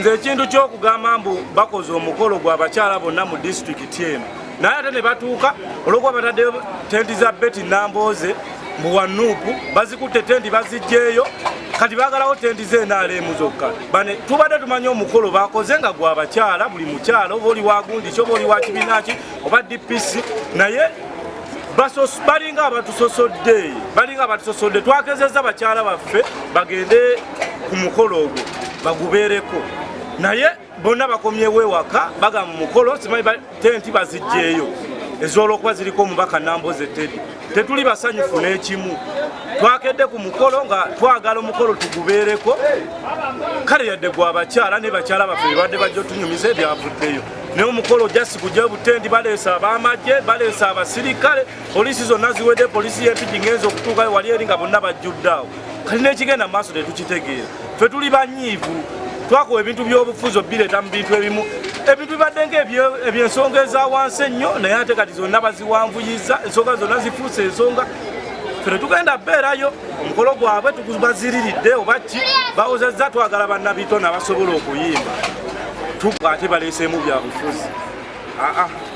nze ekintu ky'okugamba mbu bakoze omukolo gwa bakyala bonna mu disitulikiti eno naye ate ne batuuka olwokuba batadde tenti za beti nambooze mu wanuupu bazikutte tenti bazijjeeyo kati bagalawo tenti ze nrm zokka bane tubadde tumanyi omukolo bakoze nga gwa bakyala buli mukyala oba oli wagundiki oba oli wa kibinaki oba dpc naye balinga abatusosodde balinga abatusosodde twakezeza bakyala baffe bagende ku mukolo ogwo bagubeereko naye bonna bakomyewo ewaka bagamba mukolo simanyi tenti bazijjeeyo ez'olwokuba ziriko omubaka namboze tedi tetuli basanyufu n'ekimu twakedde ku mukolo nga twagala omukolo tugubeereko kale yadde gwabakyala ne bakyala baffe bebadde bajja otunyumiza ebyavuddeyo naye omukolo jasi gujja butendi baleesa abamagye baleesa abasirikale poliisi zonna ziwedde poliisi y'empigi ngenza okutuukayo wali eri nga bonna bajjuddaawo kati n'ekigenda mu maaso tetukitegeera ffe tuli banyiivu twakowa ebintu by'obufuzi obireeta mu bintu ebimu ebintu bibadde nga ebyensonga eza wansi ennyo naye ate kati zonna baziwanvuyiza ensonga zonna zifuuse ensonga ffe tetugenda beerayo omukolo gwabwe tugubaziriridde oba ki bawozezza twagala bannabito nabasobola okuyimba tukwate baleeseemu byabufuzi aa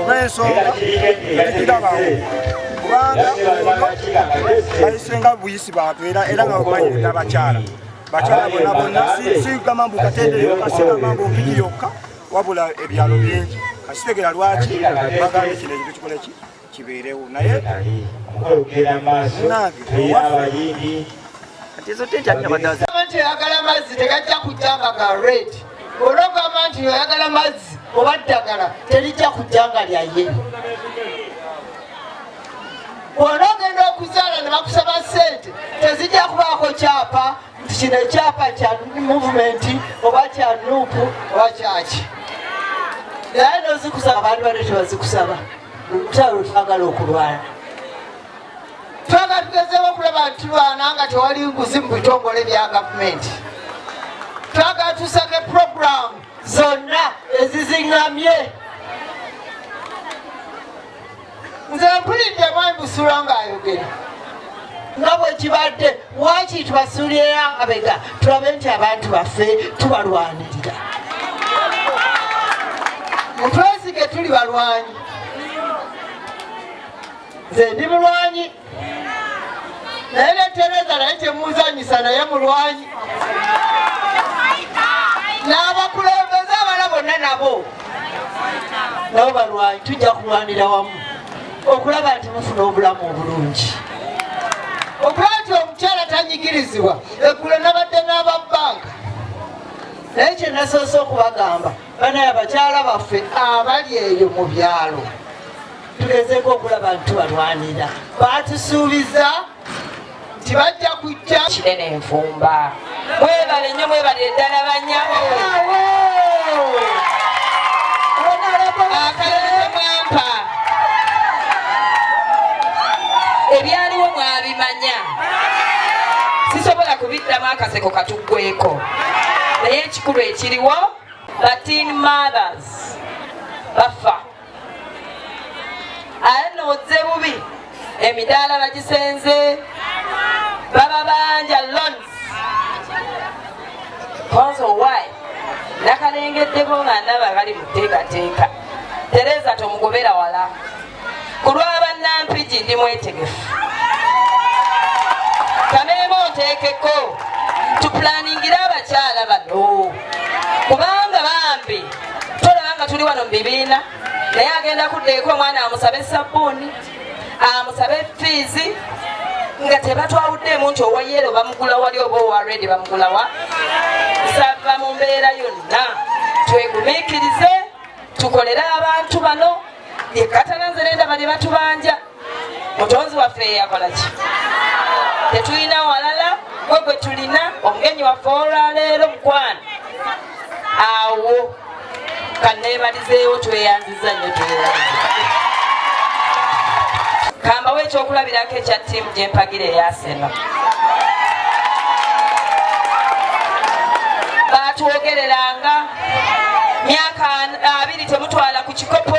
oba ensonga tekirabawo kubanga bayise nga buyisi bantu era era nga bamanyi abakyala bakyala bona bona sigamba mbu katendere yokka sigamba mbu mpiki yokka wabula ebyalo bingi kasitegera lwaki bagambye kino ekintu kikole ki kibeerewo naye nange nti ayagala amazzi tegajja kujja nga ga red olwogamba nti oyagala mazzi oba ddagala terijja kujja nga lyaye wona ogenda okuzaala ne bakusaba sente tezijja kubaako kyapa nti kino ekyapa kya muvumenti oba kya nuupu oba kyaki naye nozikusaba abantu bane tebazikusaba olutalo lwetwagala okulwana twagala tugezeewo okulaba nti tulwana nga tewali nguzi mu bitongole bya gavumenti twagala tusake puroguramu zonna ezizingamye nze mpulidde mwami busula ng'ayogera nga bwekibadde waki tubasuulira abega tulabe nti abantu baffe tubalwanirira mutwesige tuli balwanyi nze ndi mulwanyi naye netereza naye temuzanyisa naye mulwanyi n'abakulembeze abala bonna nabo nabo balwanyi tujja kulwanira wamu okulaba nti mufuna obulamu obulungi okulaba nti omukyala tanyigirizibwa eggulo nabadde n'aba banka naye kyenasoose okubagamba banaye abakyala baffe abali eyo mu byalo tugezeeko okulaba nti tubalwanira baatusuubiza nti bajja kujja kinene enfumba mwebale nnyo mwebale eddala banyabo akalomwampa ebyaliwo mwabimanya sisobola kubiddamu akaseko katuggweko naye ekikulu ekiriwo batin mothers bafa aye nno ozze bubi emidaala bagisenze bababanja loans konzo why nakalengeddeko nga ndaba bali muteekateeka tereza tomugobera wala ku lw'abannampigi ndi mwetegefu kameema onteekeko tupulaningira abakyala bano kubanga bambi tolaba nga tuli wano mu bibiina naye agenda kuddeeko omwana amusabe sabbuuni amusabe fiizi nga tebatwawuddeemu nti owa yero bamugula wali oba owa redi bamugulawa nsava mu mbeera yonna twegumikirize tukolere abantu bano yekatana nze nendaba ne batubanja mutonzi waffe yeyakola ki tetulina walala gwe gwe tulina omugenyi waffe olwaleero mukwano awo kanebalizeewo tweyanziza nyo tweyanziza kambawo ekyokulabirako ekya tiimu gyempagira eyaseno batwogereranga myaka abiri temutwala ku kikopo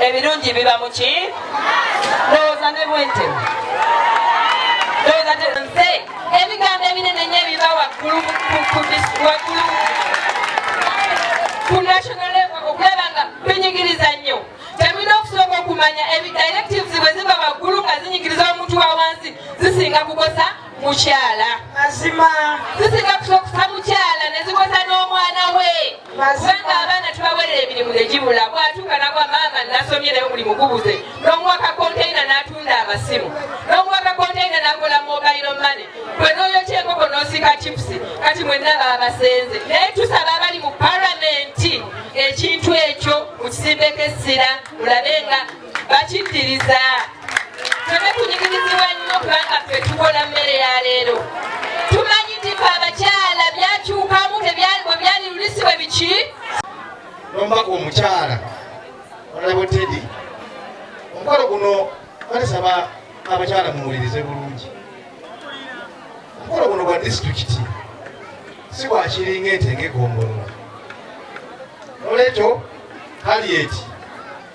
ebirungi biba muki ndowooza ne bwente ndowooza nze ebigambo ebinene nyo ebiba waggulu waggulu ku national level okulaba nga binyigiriza nnyo temulina okusooka okumanya ebidirectives bwe ziva waggulu nga zinyigiriza omuntu wa wansi zisinga kukosa mukyala mazima tusinga kusokusa mukyala nezikosa n'omwana we kubanga abaana tubawerera emirimu negibula bwatuuka nagwa maama nasomye naye omulimu gubuze n'omuwa kakontaina n'atunda amasimu n'omuwa kakontaina nakola mobailo mane gwe n'oyokya enkoko n'osiika chipusi kati mwenna baabasenze naye tusaba abali mu paramenti ekintu ekyo mukisimbeko essira mulabe nga bakikkiriza tone kunyigirizibwa nnyo kubanga ffe tukola mmere ya leero tumanyi nti fe abakyala byakyukamu tebyalibwe byali lulisi bwe biki nombaka omukyala olabo tedi omukolo guno balisaba abakyala muwulirize bulungi omukolo guno gwa disitulikiti si gwakiringa ente ngegombolola nolwekyo kalieti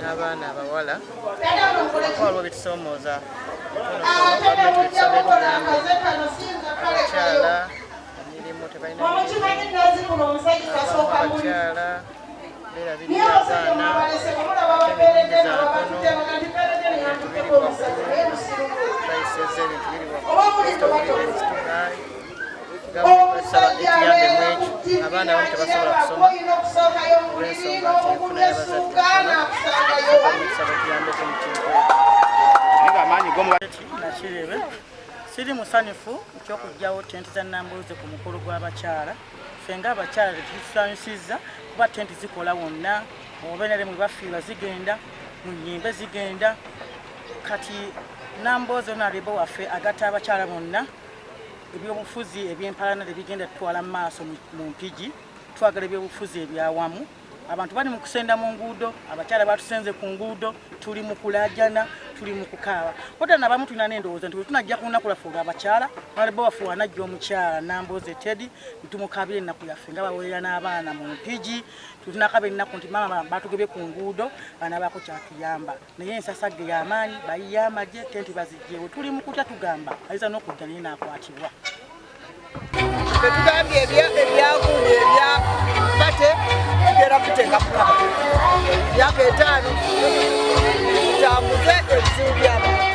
n'abaana abawala waliwo bitusoomooza abakyala emirimu tebalinabakyala berabirira abaana ebintu biri waggulu abaana abamu tebasobola kusoma olwensonga nti enfuna y'abazaddeabamusabatuyambeko mukinkonakirebe siri musanyufu ekyokugjawo tenti za nambuuze ku mukulu gw'abakyala fe nga abakyala tetusanyusizza kuba tenti zikola wonna obenere mwe bafiirwa zigenda mu nyimbe zigenda kati nambooze onalibo waffe agatta abakyala bonna ebyobufuzi ebyempalana tebigenda tutwala mu maaso mu mpigi twagala ebyobufuzi ebyawamu abantu bali mu kusenda mu nguudo abakyala batusenze ku nguudo tuli mu kulajana tuli mu kukaaba kota nabamu tulina n'endowooza nti wetunajja ku lunaku lwaffe olwabakyala nalebo waffe wanajja omukyala nambooze tedi nitumukabira ennaku yaffe nga baweerera n'abaana mu mpigi tulinakaba ennaku nti maama batugebye ku nguudo banabaako kyatuyamba naye ensasagge y'amaanyi bayiye amagye tenti bazijjeewo tuli mu kutya tugamba ayinza n'okujja naye n'akwatibwa tetugambye ebyagundi ebya kate tugera kuteeka kulaba myaka etaano tutambuze ebizibu by'abantu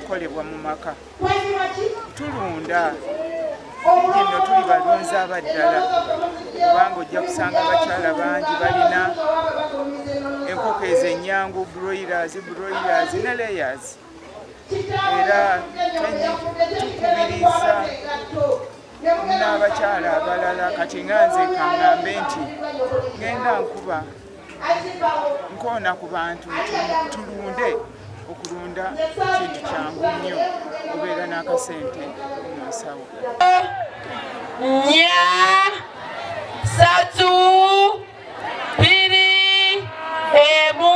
kolebwa mu maka tulunda nno tuli balunzi abaddala kubanga ojja kusanga abakyala bangi balina enkoko ezo enyangu broilers broilers ne layers era tukubiriza n'abakyala abalala kati nga nze kangambe nti ngenda nkuba nkoona ku bantu tulunde okulunda kintu kyangu nnyo obeera n'akasente mu nsawo nya satu biri emu